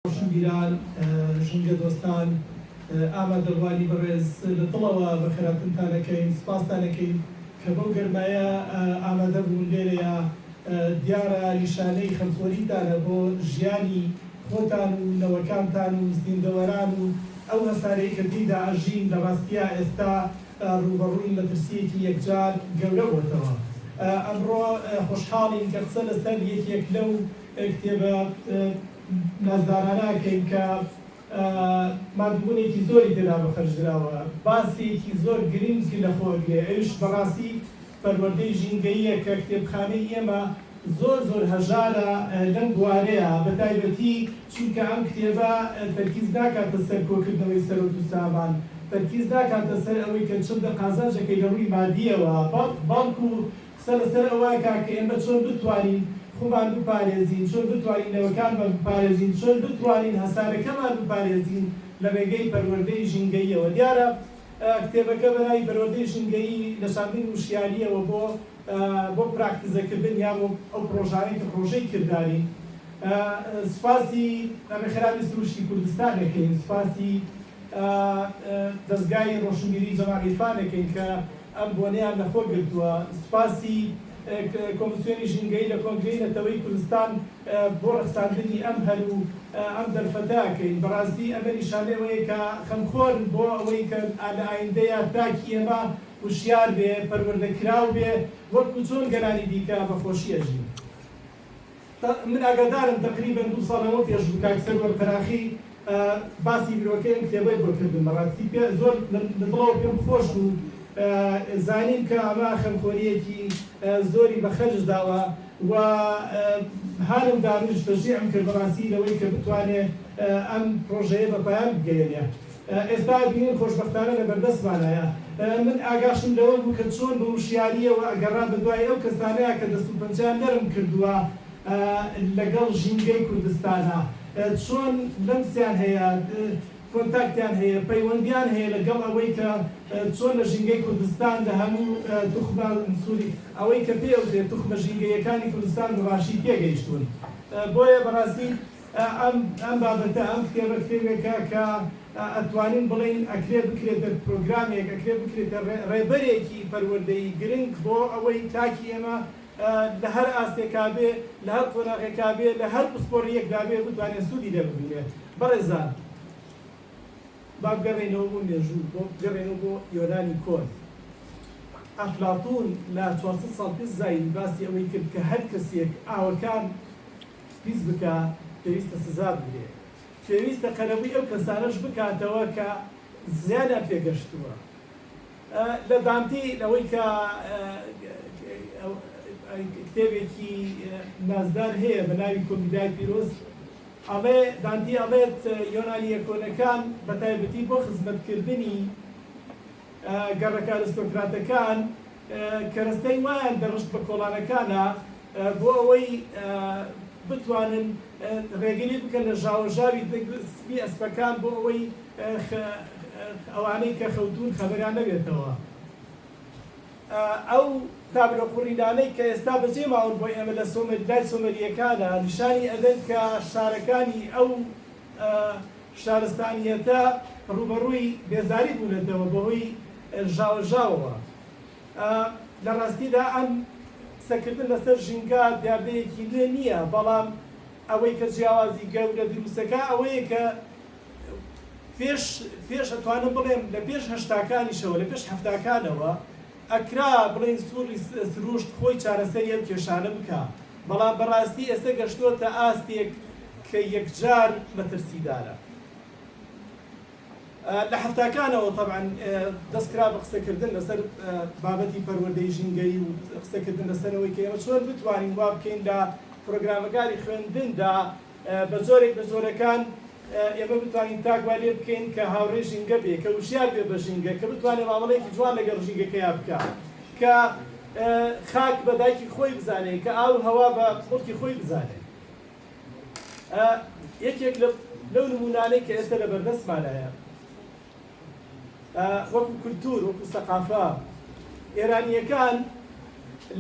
ڕۆشنبیران، ژینگە دۆستان، ئامادەڕوانی بەڕێز لە دڵەوە بە خێراتنتان ئەکەین، سوپاستان ئەکەین کە بەو گەرمایە ئامادە بوون لێرەیا، دیارە نیشانەی خەمخۆریتانە بۆ ژیانی خۆتان و نەوەکانتان و زیندەوەران و ئەو هەسارەی کە تێیدا ئەژین، لە ڕاستیا ئێستا ڕووبەڕووی مەترسییەکی یەکجار گەورە بۆتەوە. ئەمڕۆ خۆشحاڵین کە قسە لەسەر یەکێک لەو کتێبە. نازدارانە ئەکەین کە ماندووبوونێکی زۆری تێدا بەخەرج دراوە، باسێکی زۆر گرنگی لەخۆ ئەگرێ، ئەویش بەڕاستی پەروەردەی ژینگەییە کە کتێبخانەی ئێمە زۆر زۆر هەژارە لەم بوارەیا، بەتایبەتی چونکە ئەم کتێبە تەرکیز ناکاتە سەر کۆکردنەوەی سەرۆت و سامان، تەرکیز ناکاتە سەر ئەوەی کە چەندە قازانجەکەی لەڕووی مادییەوە، بەڵکو قسە لەسەر ئەوە ئەکا کە ئێمە چۆن بتوانین خومان بپارێزین، چۆن بتوانین نەوەکانمان بپارێزین، چۆن بتوانین هەسارەکەمان بپارێزین لە رێگەی پەروەردەی ژینگەییەوە. دیارە کتێبەکە بە ناوی پەروەردەی ژینگەیی لە چاندین وشیارییەوە بۆ بۆ پراکتیزەکردن یا بۆ ئەو پرۆژانەی کە پرۆژەی کردارین. سوپاسی رێکخراوی سروشتی کوردستان دەکەین، سوپاسی دەزگای رۆشنبیریی جەمال عیرفان دەکەین کە ئەم بۆنەیان لە خۆ گرتووە. سوپاسی کۆمسیۆنی ژینگەیی لە کۆنگرەی نەتەوەیی کوردستان بۆ ڕەخساندنی ئەم هەل و ئەم دەرفەتە ئەکەین. بەڕاستی ئەمە نیشانەی ئەوەیە کە خەمخۆرن بۆ ئەوەی کە لە ئایندەیا تاکی ئێمە هوشیار بێ، پەروەردەکراو بێ، وەکو چۆن گەلانی دیکە بە خۆشی ئەژین. من ئاگادارم تەقریبەن دوو ساڵ لەمەو پێش بوو کاک سەروەر قەراخی باسی برۆکەی ئەم کتێبەی بۆ کردم بەڕاستی پێ زۆر لە دڵەوە پێم خۆش بوو زانیم کە ئەمە خەمخۆرییەکی زۆری بە خەرج داوە و هانم دانوش تەشجیعم کرد بەڕاستی لەوەی کە بتوانێ ئەم پڕۆژەیە بە پایان بگەیەنێ. ئێستا بینیم خۆشبەختانە لەبەردەستمانایە. من ئاگاشم لەوە بوو کە چۆن بە وشیارییەوە ئەگەڕا بە دوای ئەو کەسانە کە دەست و پەنجەیان نەرم کردووە لەگەڵ ژینگەی کوردستانا، چۆن لەمسیان هەیە، کۆنتاکتیان هەیە، پەیوەندییان هەیە لەگەڵ ئەوەی کە چۆن لە ژینگەی کوردستان لە هەموو توخمە سووری ئەوەی کە پێی ئەوترێت توخمە ژینگەییەکانی کوردستان بەباشی تێگەیشتوون. بۆیە بەڕاستی. ئەم ئەم بابەتە ئەم کتێبە کتێبێکە کە ئەتوانین بڵێین ئەکرێ بکرێتە پرۆگرامێک ئەکرێ بکرێتە ڕێ ڕێبەرێکی پەروەردەیی گرنگ بۆ ئەوەی تاکی ئێمە لە هەر ئاستێکا بێ لە هەر قۆناغێکا بێ لە هەر پسپۆڕییەکدا بێ بتوانێ سوودی لێ ببینێ بەڕێزان با بگەڕێینەوە بۆ مێژوو بۆ بگەڕێینەوە بۆ یۆنانی کۆن ئەفلاتوون لە چوار سەد ساڵ پێش زایین باسی ئەوەی کرد کە هەر کەسێک ئاوەکان پیس بکا پێویستە سزا بدرێ پێویستە قەرەبوی ئەو کەسانەش بکاتەوە کە زیانیان پێ گەشتوە لە دانتی ئەوەی کە کتێبێکی نازدار هەیە بە ناوی کۆمیدای پیرۆز ئەڵێ دانتی ئەڵێت یۆنانیە کۆنەکان بە تایبەتی بۆ خزمەتکردنی گەڕەکە ئەرستۆکراتەکان کەرەستەی وایان دەڕشت بە کۆڵانەکانا بۆ ئەوەی بتوانن ڕێگری بکەن لە ژاوەژاوی سپی ئەسپەکان بۆ ئەوەی ئەوانەی کە خەوتوون خەبەریان نەبێتەوە. ئەو تابلۆ قوڕینانەی کە ئێستا بەجێ ماون بۆ ئێمە لە سۆمەری لای سۆمەرییەکانا نیشانی ئەدەن کە شارەکانی ئەو شارستانییەتە ڕووبەڕووی بێزاری بوونەتەوە بەهۆی ژاوەژاوەوە. لە ڕاستیدا ئەم قسەکردن لەسەر ژینگە دیاردەیەکی نوێ نییە، بەڵام ئەوەی کە جیاوازی گەورە دروست دەکات ئەوەیە کە پێش، پێش ئەتوانم بڵێم لە پێش هەشتاکانیشەوە، لە پێش حەفتاکانەوە، ئەکرا بڵێین سوڕی سروشت خۆی چارەسەری ئەم کێشانە بکا، بەڵام بەڕاستی ئێستا گەشتۆتە ئاستێک کە یەکجار مەترسیدارە. لە حەفتاکانەوە تەبعەن دەست کرا بە قسەکردن لەسەر بابەتی پەروەردەی ژینگەیی و قسەکردن لەسەر ئەوەی کە ئێمە چۆن بتوانین وابکەین لە پرۆگرامەکانی خوێندندا، بە جۆرێک لە جۆرەکان ئێمە بتوانین تاک وای لێ بکەین کە هاوڕێی ژینگە بێ، کە وشیار بێ بە ژینگە، کە بتوانێ مامەڵەیەکی جوان لەگەڵ ژینگەکەیا بکا، کە خاک بە دایکی خۆی بزانێ، کە ئاو و هەوا بە مڵکی خۆی بزانێ. یەکێک لەو نموونانەی کە ئێستە لە بەردەستمانایە، وەکو کولتوور، وەکو سەقافە، ئێرانییەکان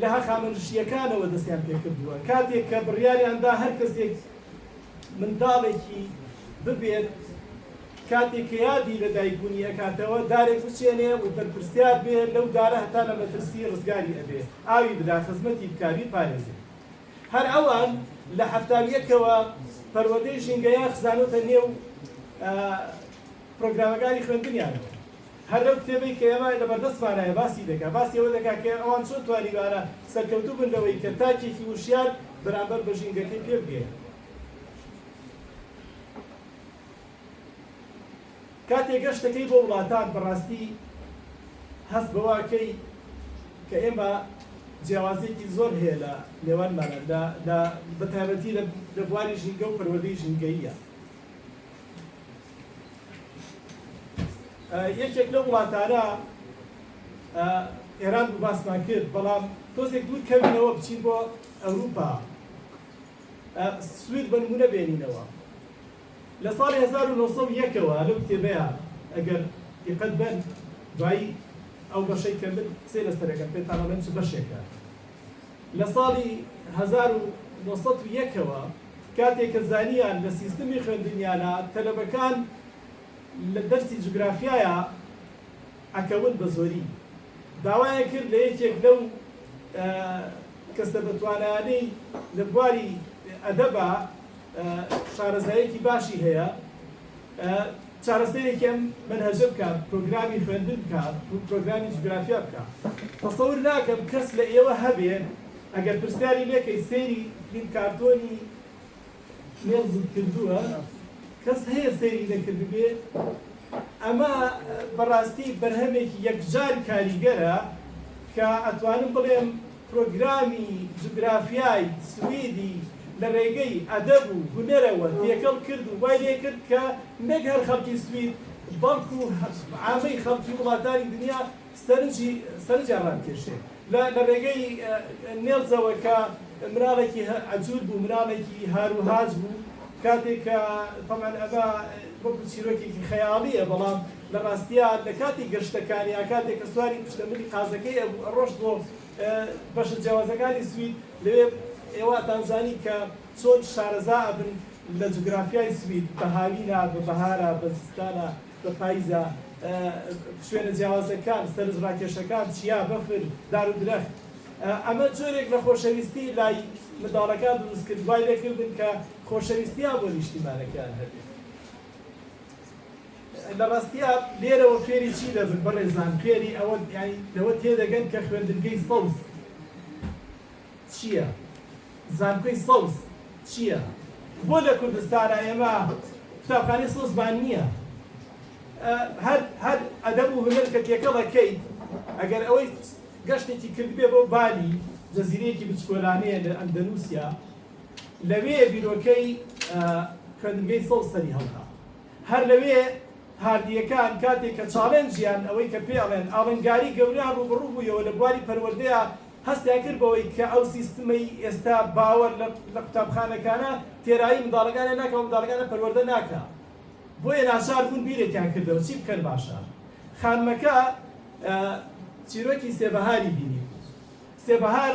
لە هەخامەنشییەکانەوە دەستیان پێ کردووە. کاتێک کە بڕیاریان دا هەر کەسێک منداڵێکی ببێت، کاتێک کە یادی لە دایکبوونی ئەکاتەوە، دارێک بچێنێ و بەرپرسیار بێ لەو دارە هەتا لە مەترسی ڕزگاری ئەبێ، ئاوی بدا، خزمەتی بکا، بیپارێزێ. هەر ئەوان لە حەفتا و یەک کەوە پەروەردەی ژینگەیان خزانۆتە نێو پرۆگرامەکانی خوێندنیانەوە. هەر لەو کتێبەی کە ئێمە لە بەردەستمانایە باسی دەکا، باسی ئەوە دەکا کە ئەوان چۆن توانیویانە سەرکەوتوو بن لەوەی کە تاکێکی وشیار بەرامبەر بە ژینگەکەی پێ بگەیەنن. کاتێ گەشت دەکەی بۆ وڵاتان بەڕاستی هەست بەوە کەی کە ئێمە جیاوازیەکی زۆر هەیە لە نێوانمانا لە لە بە تایبەتی لە لە بواری ژینگە و پەروەردەی ژینگەییە یەکێک لە وڵاتانە ئێران بوو باسمان کرد بەڵام تۆزێک دوور کەمینەوە بچین بۆ ئەوروپا سوید بەنمونە بێنینەوە لە ساڵی هەزار و نۆ سەد و یەک ەوە لەو کتێبەیا ئەگەر دیقەت بەن دوایی ئەو بەشەی کە من قسەی لەسەر ئەکەم پێتان ئەڵێم چ بەشێکە لە ساڵی هەزار و نۆ سەد و یەک ەوە کاتێ کە زانیان لە سیستمی خوێندنیانا تەلەبەکان لە دەرسی جوگرافیایا ئەکەون بە زۆری داوایان کرد لە یەکێک لەو کەسە بە توانایانەی لە بواری ئەدەبا شارەزاییەکی باشی هەیە چارەسەرێکی ئەم منهەجە بکات پرۆگرامی خوێندن بکات پرۆگرامی جوگرافیا بکات تەسەور ناکەم کەس لە ئێوە هەبێ ئەگەر پرسیاری لێکەی سەیری فلیم کارتۆنی مێڵزت کردووە کەس هەیە سەیری نەکردبێ ئەمە بەڕاستی بەرهەمێکی یەکجار کاریگەرە کە ئەتوانم بڵێم پرۆگرامی جوگرافیای سویدی لە رێگەی ئەدەب و هونەرەوە تێکەڵ کرد و وای لێکرد کە نەک هەر خەڵکی سوید بەڵکو عامەی خەڵکی وڵاتانی دنیا سەرنجی سەرنجیان رابکێشێ لە لە رێگەی نێڵزەوە کە مناڵێکی عەجول بوو مناڵێکی هار و هاج بوو کاتێک کە تەبعەن ئەمە وەکو چیرۆکێکی خەیاڵیە بەڵام لە ڕاستیا لە کاتی گەشتەکانی یا کاتێک کە سواری پشتەملی قازەکەی ئەبوو ئەڕۆشت بۆ بەشە جیاوازەکانی سوید لەوێ ئێواتان زانی کە چۆن شارەزا ئەبن لە جوگرافیای سوید بە هاوینە بە بەهارە بە زستانە بە پایزە شوێنە جیاوازەکان سەرنج ڕاکێشەکان چیا بەفر دار و درەخت ئەمە جۆرێک لە خۆشەویستی لای منداڵەکان دروست کرد وای لێ کردن کە خۆشەویستیان بۆ نیشتیمانەکەیان هەبێت. لە ڕاستیا لێرەوە فێری چی دەبن بەڕێزان؟ فێری ئەوە یانی لەوە تێدەگەن کە خوێندنگەی سەوز چییە؟ زانکۆی سەوز چییە؟ بۆ لە کوردستانا ئێمە قوتابخانەی سەوزمان نییە؟ هەر هەر ئەدەب و هونەر کە تێکەڵەکەیت ئەگەر ئەوەی گەشتێکی کردبێ بۆ بالی جەزیرەیەکی بچکۆلانەیە لە ئەندەنووسیا لەوێ بیرۆکەی خوێندنگەی سەوز سەری هەڵدا. هەر لەوێ هاردییەکان کاتێک کە چاڵێنجیان، ئەوەی کە پێی ئەڵێن ئاڵنگاریی گەورەیان ڕووبەڕوو بوویەوە لە بواری پەروەردەیا، هەستیان کرد بەوەی کە ئەو سیستمەی ئێستا باوەر لە قوتابخانەکانە، تێرایی منداڵەکانیان ناکا و منداڵەکانیان پەروەردە ناکا. بۆیە ناچار بوون بیرێکیان کردەوە چی بکەن باشە. خانمەکە چیرۆکی سێ بەهاری بینی. سێ بەهار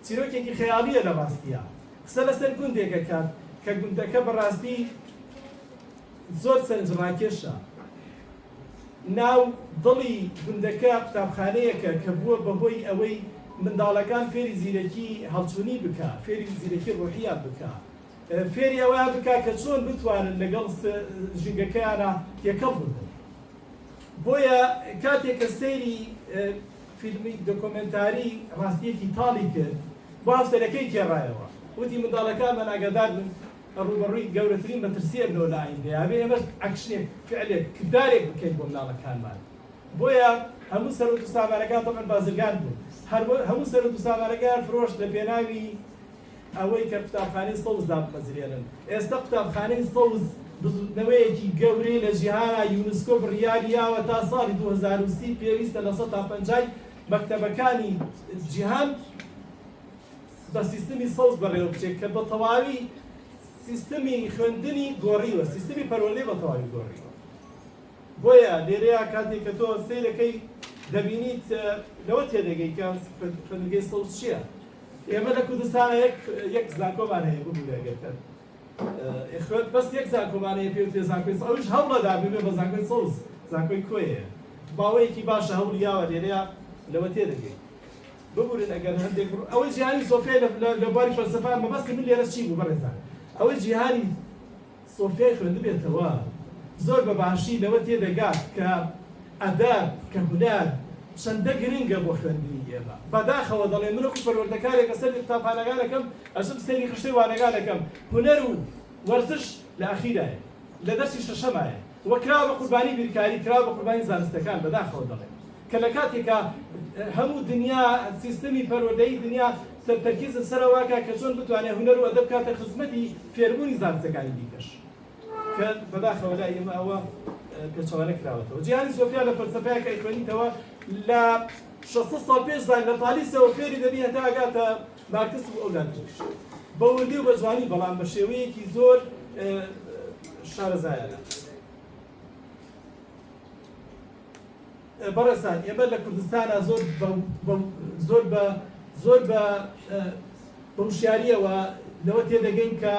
چیرۆکێکی خەیاڵییە لە ڕاستییا قسە لەسەر گوندێک ئەکات کە گوندەکە بە ڕاستی زۆر سەرنج ڕاکێشە ناو دڵی گوندەکە قوتابخانەیەکە کە بووە بە هۆی ئەوەی منداڵەکان فێری زیرەکی هەڵچوونی بکا فێری زیرەکی ڕۆحیات بکا فێری ئەوە بکا کە چۆن بتوانن لەگەڵ ژینگەکەیانە تێکەڵ بن بۆیە کاتێک کە سەیری فیلمی دۆکۆمێنتاری ڕاستییەکی تاڵی کرد، بۆ هاوسەرەکەی گێڕایەوە، وتی، منداڵەکانمان ئاگادار بن کە ڕووبەڕووی گەورەترین مەترسییە بنەوە لە ئایندەیە، ئەبێ ئێمەش ئەکشنێک، فعلێک، کردارێک بکەین بۆ منداڵەکانمان. بۆیە هەموو سەروەت و سامانەکان، تەبعەن بازرگان بوو، هەموو سەروەت و سامانەکەیان فرۆشت لەپێناوی ئەوەی کە قوتابخانەی سەوز دابمەزرێنن. ئێستە قوتابخانەی سەوز بزووتنەوەیەکی گەورەی لە جیهانا، یونسکۆ بڕیاری یاوە تا ساڵی دوو هەزار و سی پێویستە لە سەتا پەنجای مەکتەبەکانی جیهان بە سیستمی سەوز بەڕێوە بچێت کە بە تەواوی سیستمی خوێندنی گۆڕیوە، سیستمی پەروەردەی بە تەواوی گۆڕیوە. بۆیە لێرەیا کاتێک کە تۆ سەیرەکەی دەبینیت لەوە تێدەگەی کە خوێندنگەی سەوز چیە ئێمە لە کوردستانە یەک یەک زانکۆمان هەیە ببوورە ئەگەر کەن خوێت بەس یەک زانکۆمان هەیە پێ وتێ زانکۆی ئەوش هەوڵەدا ببێ بە زانکۆی سەوز زانکۆی کۆیە باوەیەکی باشە هەوڵ یاوە لێرەیە لەوە تێدەگەی ببورن ئەگەر هەندێک ئەوەی جیهانی سۆفێ لە بواری فەلسەفە مەبەستی من لێرە چی بوو بەڕێزان ئەوەی جیهانی سۆفیای خوێندبێتەوە زۆر بە باشی لەوە تێدەگات کە ئەدەب، کە هونەر چەندە گرنگە بۆ خوێندنی ئێمە. بەداخەوە دەڵێم من وەکو پەروەردەکارێک لە سەردی قوتابخانەکانەکەم ئەچم سەیری خشتەی وانەگانەکەم هونەر و وەرزش لە ئەخیرایە، لە دەرسی شەشەمایە. و کراوە بە قوربانی بیرکاری، کراوە بە قوربانی زانستەکان، بەداخەوە دەڵێم کە لە کاتێکا هەموو دنیا سیستمی پەروەردەیی دنیا تەرکیزە سەر ئەوە کە کە چۆن بتوانێت هونەر و ئەدەب بکاتە خزمەتی فێربوونی زانستەکانی دیکەش کە بەداخەوە لای ئێمە ئەوە پێچەوانە کراوەتەوە جیهانی سۆفیا لە فەلسەفەیە کە ئەیخوێنیتەوە لە 600 ساڵ پێش زاگرە تالیسەوە فێری دەبی هەتا ئەگاتە مارکس و ئەولاد تریش بە وردی و بە جوانی بەڵام بە شێوەیەکی زۆر شارەزایانە بەڕێزان ئێمە لە کوردستانە زۆر زۆر بە زۆر بە بەوشیاریەوە لەوە تێدەگەین کە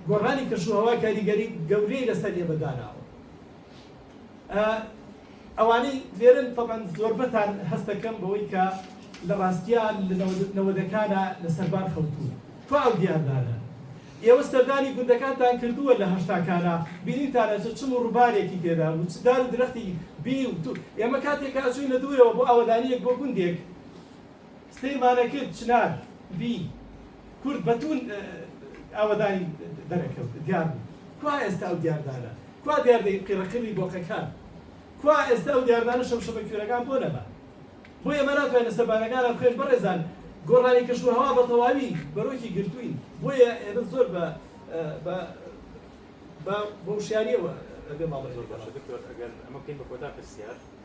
گۆڕانی کەشوهوا کاریگەری گەورەی لەسەر ئێمەداناوە ئەوانەی لێرەن تەبعەن زۆربەتان هەست دەکەم بەوەی کە لە ڕاستیا لە نەوەدەکانا لە سەربان خەوتوون. کوا ئەو دیاردانە؟ ئێوە سەردانی گوندەکانتان کردووە لە هەشتاکانا، بینیوتانە چ چم و ڕوبارێکی تێدا بوو، چ دار و درەختی بی و تو. ئێمە کاتێک ئەچووینە دوورەوە بۆ ئاوەدانییەک بۆ گوندێک، سەی مانە کرد چنار بی کورد بە توون ئاوەدانی دەرەکەوت دیار بوو کوا ئێستا ئەو دیاردانە کوا دیاردەی قیڕە قیڕی بۆقەکان کوا ئێستا ئەو دیاردانە شەمشەمە کوێرەکان بۆ نەما بۆ ئێمە ناتوانین لەسەر بارەگانە بخێش بەڕێزان گۆڕانی کەش و هەوا بە تەواوی بەرۆکی گرتووین بۆیە ئێمە زۆر بە بە وشیاریەوە بێ ماڵ باشە دکتۆر ئەگەر ئەمە بکەین بە کۆتا پرسیار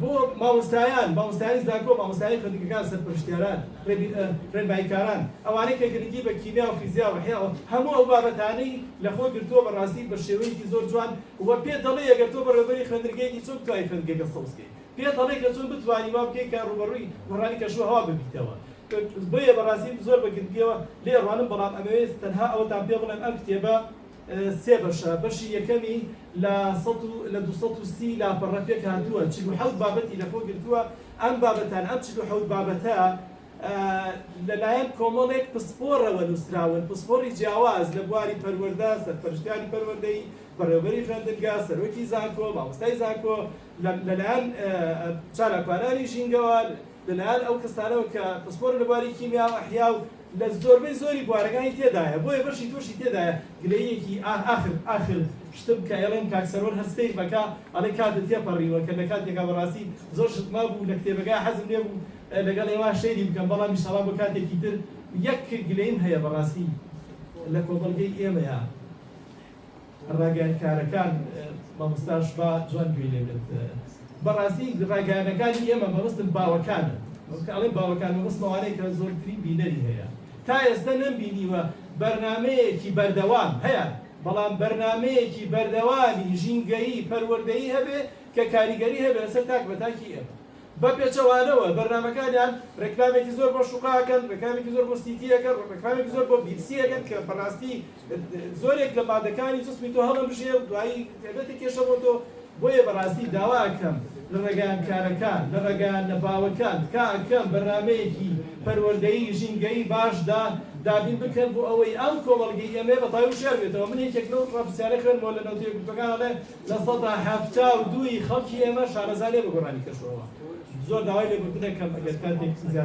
بۆ مامۆستایان، مامۆستایانی زانکۆ، مامۆستایانی خوێندنگەکان، سەرپەرشتیاران، ڕێباینکاران، ئەوانەی کە گرنگی بە کیمیا و فیزیا و ئەحیا و هەموو ئەو بابەتانەی لە خۆ گرتووە بەڕاستی بە شێوەیەکی زۆر جوان و پێت دەڵێ ئەگەر تۆ بەڕێوەبەری خوێندنگەیەکی چۆن بتوانی خوێندنگەکە سەوز بکەیت پێت ئەڵێ کە چۆن بتوانی وا بکەیت کە ڕووبەڕووی بوحرانی کەشوهەوا ببیتەوە بۆیە بەڕاستی زۆر بە گرنگیەوە لێ ڕوانم بەڵام ئەمەوێت تەنها ئەوەتان پێ بڵێم ئەم کتێبە سێ بەشە، بەشی یەکەمی لە سەد و لە دوو سەد و سی لاپەڕە پێکهاتووە، چل و حەوت بابەتی لەخۆ گرتووە، ئەم بابەتانە، ئەم چل و حەوت بابەتە لەلایەن کۆمەڵێک پسپۆڕەوە نووسراون، پسپۆڕی جیاواز لە بواری پەروەردە، سەرپەرشتیاری پەروەردەیی، بەڕێوەبەری خوێندنگە، سەرۆکی زانکۆ، مامۆستای زانکۆ، لەلایەن چالاکوانانی ژینگەوە، لەلایەن ئەو کەسانەوە کە پسپۆرن لە بواری کیمیا و ئەحیا و لە زۆربەی زۆری بوارەکانی تێدایە، بۆیە بەشی تۆشی تێدایە گلەییەکی ئاه ئاخر ئاخر شتم کە ئەیڵێم کاک سەروەر هەر سەیر بەکە ئەڵێ کاتت تێپەڕیوە کە لەکاتێکا بەڕاستی زۆر شت مابوو لە کتێبەکە حەزم لێبوو لەگەڵ ئێوە شەیری بکەم بەڵام ئیشەڵا بۆ کاتێکی تر یەک گلەیم هەیە بەڕاستی لە کۆمەڵگەی ئێمەیا ڕاگەیان کارەکان مامۆستاش با جوان گوێی لێ بێت بەڕاستی ڕاگەیانەکانی ئێمە مەبەستم باوەکانە کە ئەڵێ باوەکان مەبەستم ئەوانەیە کە زۆرترین بینەری هەیە تا ئێستا نەمبینیوە بەرنمەیەکی بەردەوام هەیە بەڵام بەرنمەیەکی بەردەوامی ژینگەیی پەروەردەیی هەبێ کە کاریگەری هەبێ لەسەر تاک بە تاکی ئێمە بە پێچەوانەوە بەرنامەکانیان ڕێکلامێکی زۆر بۆ شوقە ئەکەن، ڕێکلامێکی زۆر بۆ سیتی ئەکەن، ڕێکلامێکی زۆر بۆ بیپسی ئەکەن کە بەڕاستی زۆرێک لە مادەکانی جسمی تۆ هەڵەمژێ و دوایی دەبێتە کێشە بۆ تۆ، بۆیە بەڕاستی داوا ئەکەم لە ڕێگایان کارەکان لە ڕێگایان نەباوەکان تکا ئەکەم بەرنامەیەکی پەروەردەیی ژینگەیی باش دا دابین بکەن بۆ ئەوەی ئەم کۆمەڵگەی ئێمەی ڕەتاوی و شێر بێتەوە، من یەکێک لەو ڕاپرسیارە خوێنمەوە لە نەوتە یەکگرتووەکان ئەڵێ. لە سەدا حەفتا و دوو ی خەڵکی ئێمە شارەزا نین بە گۆڕانی کەشوهەوا، زۆر داوای لێبوردنەکەم ئەگەر کاتێکی زیاتر.